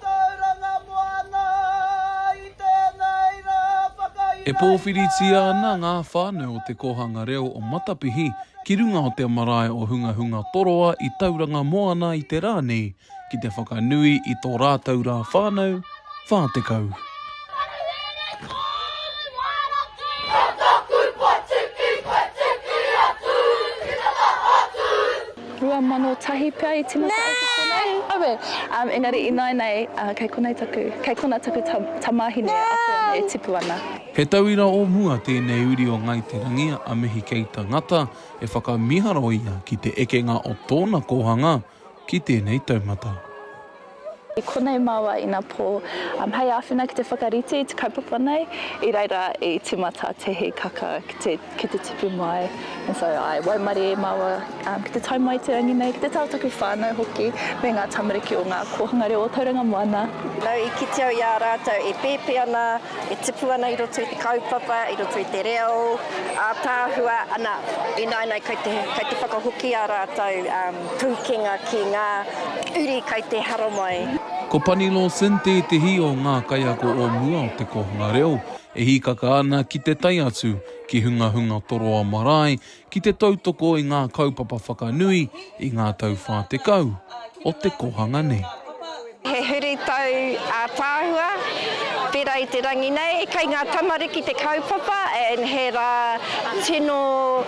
Tauranga Moana i tēnei rā whakaihaina. E pōwhiritia ana ngā whānau o Te Kōhanga Reo o Matapihi ki runga o te marae o Hungahunga Toroa i Tauranga Moana i te rā nei ki te whakanui i tō rātou rā whānau 40. 2001 pea i timata ai ki konei. Aue! Engari ināinei, kei konei taku, kei kona taku tamāhine akoana e tipu ana. He tauira o mua tēnei uri o Ngāi Te Rangi a Mihi Keita Ngata e whakamiharo ia ki te ekenga o tōna kōhanga ki tēnei taumata. I konei māua ina pō. Hei āwhina ki te whakarite i te kaupapa nei, i reira i tīmata te hīkaka ki te tipu mai. And so I waimarie e māua ki te tae mai i te rangi nei, ki te tau taku whānau hoki, me ngā tamariki o ngā kōhanga reo o Tauranga Moana. Nau i kite au i a rātou e pēpē ana, e tipu ana i roto i te kaupapa, i roto i te reo ātaahua, ana, ināinā kei te whakahoki a rātou. Pūkenga ki ngā uri kai te haramai. Ko Pani Lawson tētehi o ngā kaiako o mua o te kōhanga reo e hīkaka ana ki te tae atu ki Hungahunga Toroa Marae ki te tautoko i ngā kaupapa whakanui i ngā tau whā tekau o te kōhanga nei. He huritau ātaahua, pērā i te rangi nei, kei ngā tamariki te kaupapa and he rā tino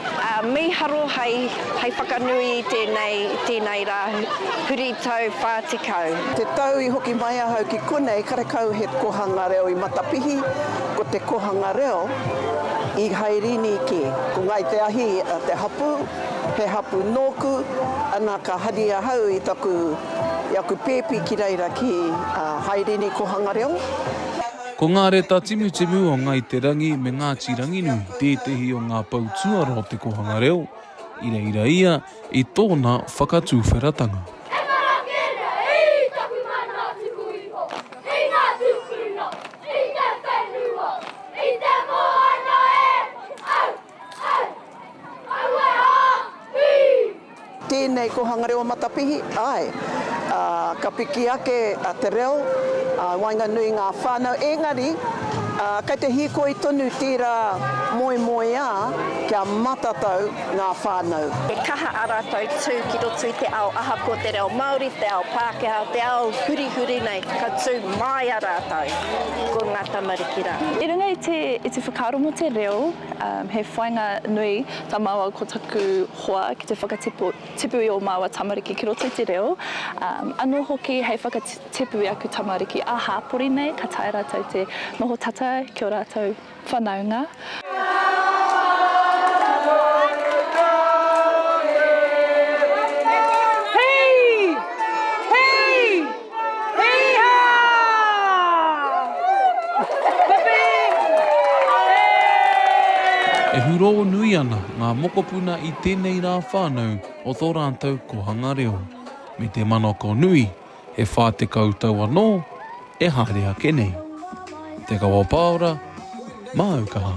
mīharo hei whakanui i tēnei, tēnei rā huritau 40. Te tau i hoki mai ahau ki konei karekau he kohanga reo i Matapihi, ko te kohanga reo i Hairini kē. Ko Ngāi Te Ahi te hapū, he hapū nōku, ana ka hari ahau i taku I aku pēpi ki reira ki a Haerini Kohanga Reo. Ko ngā reta timutimu o Ngai Te Rangi me Ngāti Ranginui tētehi o ngā pou tuarā o te kohanga reo, i reira ia i tōna whakatuwheratanga. Tēnei ko Hangareo Matapihi, āe. Ā, ka piki ake te reo, ā, i waenganui i ngā whānau, ēngari, ā, kei te hīkoi tonu tērā moemoeā kia matatau ngā whānau. He kaha ā rātou tū ki roto i te ao ahakoa te reo Māori, te ao Pākehā, te ao hurihuri nei, ka tū māia rātou ko ngā tamariki rā. I runga i te whakaaro mō te reo. He whainga nui ta maua ko taku hoa ki te whakatipu i o maua tamariki ki roto i te reo, ano hoki hei whakatipu i aku tamariki a hapori nei ka taea ratou te noho tata ki o ratou whanaunga. E hurō nui ana ngā mokopuna i tēnei rā whānau o tō rātou kōhanga reo. Me te manako nui, he 40 tau anō e haere ake nei. Te Kawa Paora, Māu Kaha.